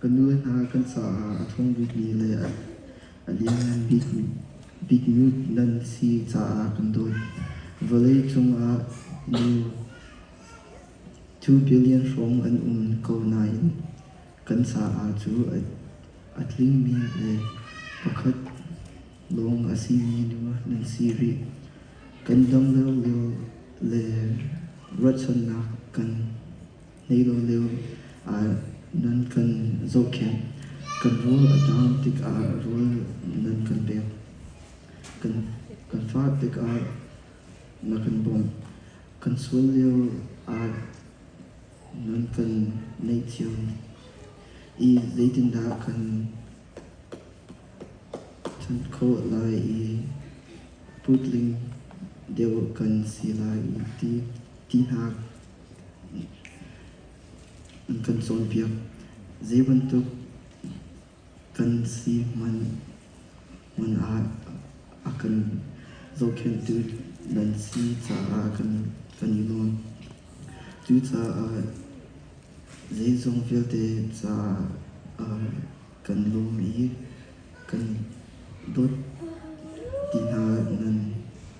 Ka nu hna kan caah a ṭhawng bikmi le a lianngan bikmi nan si caah kan dawt. Vawlei cungah nu two billion hrawng an um ko nain kan caah cu a tlingmi le pakhat lawng a simi nu nan si rih. Kan dam lio lio le ruahchannak kan. Leilolio ah nan kan zohkhenh. Kan rawl a dam tikah rawl nan kan pek. Kan fah tikah na kan bawmh. Kan sual lio ah nan kan ngaihthiam i zeitindah kan ṭhan khawh lai i putling deuh kan si lai ti ti hna. an kan cawnpiak. Zeibantuk kan si hmanh hmun ah a kan zohkhenhtu nan si caah kan i nuam. Cucaah zeizong vialte caah kan lawm i kan dawt ti hna nan.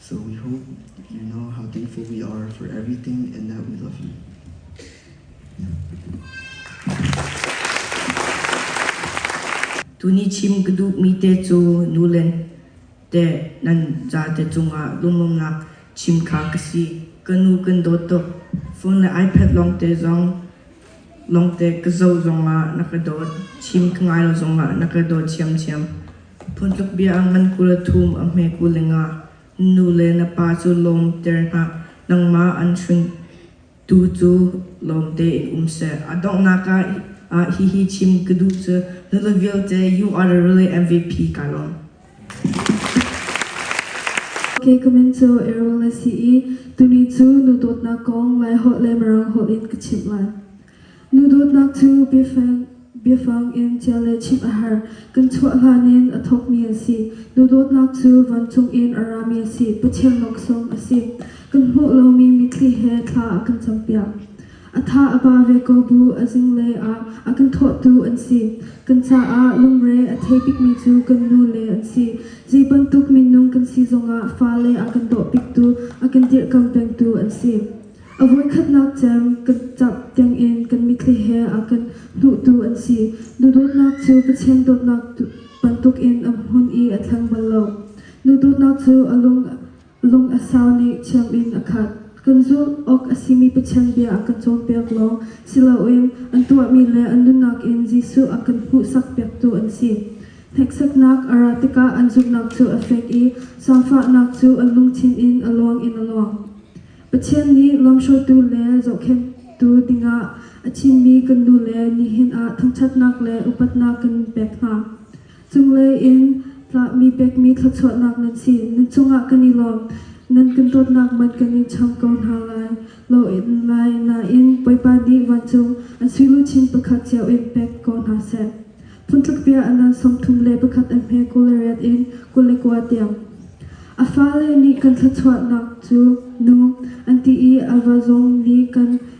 So we hope you know how thankful we are for everything and that we love you. Tuni chim ka duhmi te cu nulen te nan ca te cungah lungumnak chim kha ka si. Ka nu kan dawt tuk. Phone le iPad long te zong Lawngte ka zoh zongah na ka dawt, chim ka ngai lo zongah na ka dawt ṭhiamṭhiam. Phuntluk bia ngan kul a thum a hme kul lengah nu le na pa cu lawmter hlah, nangmah an hringtu cu lawm tein um seh. A donghnak ah hihi chim ka duh cu, nule vialte you are really MVP kaa lawm. Hi comment cu Errol a si i tuni cu nu dawtnak kong Laiholh le Mirang holh in ka chimh lai. Nu dawtnak cu biafang biafang in cia le chimh a har. Kan chuah hlan in a thawkmi a si. Nu dawtnak cu vancung in a rami a si. Pathian laksawng a si. Kan hmuh lomi mitthli he thla a kan campiak. A tha a pa ve ko bu a zinglei ah a kan thawhtu an si. Kan caah lungre a thei bikmi cu kan nu le an si. Zei bantuk minung kan si zongah fale an kan dawh piktu, a kan dirhkam pengtu an si. A voikhatnak cem kan camh tiangin kan mitthli he a kan hnuhtu an si. Duhdawtnak cu Pathian dawtnak bantukin a hmun i a thleng bal lo. Nu dawtnak cu a lung Lung a sau nih thiam in a khat. Kan zulh awk a simi Pathian bia a kan cawnpiak lawng si loin an tuahmi le an nunnak in Jesuh a kan hmuhsak piaktu an si. Hneksaknak a ra tikah an zumhnak cu a fek i zaangfahnak cu an lungthin in a luang in a luang. Pathian nih lamhruaitu le zohkhenhtu dingah a thimmi kan nu le nihin ah thangṭhatnak le upatnak kan pek hna. Cunglei in tlahmi pekmi thluachuahnak nan si, nan cungah kan i lawm. Nan kan dawtnak hmanh kan i cham ko hna lai lo lai nain Bawipa nih vancung an suiluchin pakhat cio in pek ko hna seh. Phuntluk bia a nan sawmthum le pakhat a hme kul le riat in kul le kua tiang. A fale nih kan thluachuahnak cu nu an ti i a va zong nih kan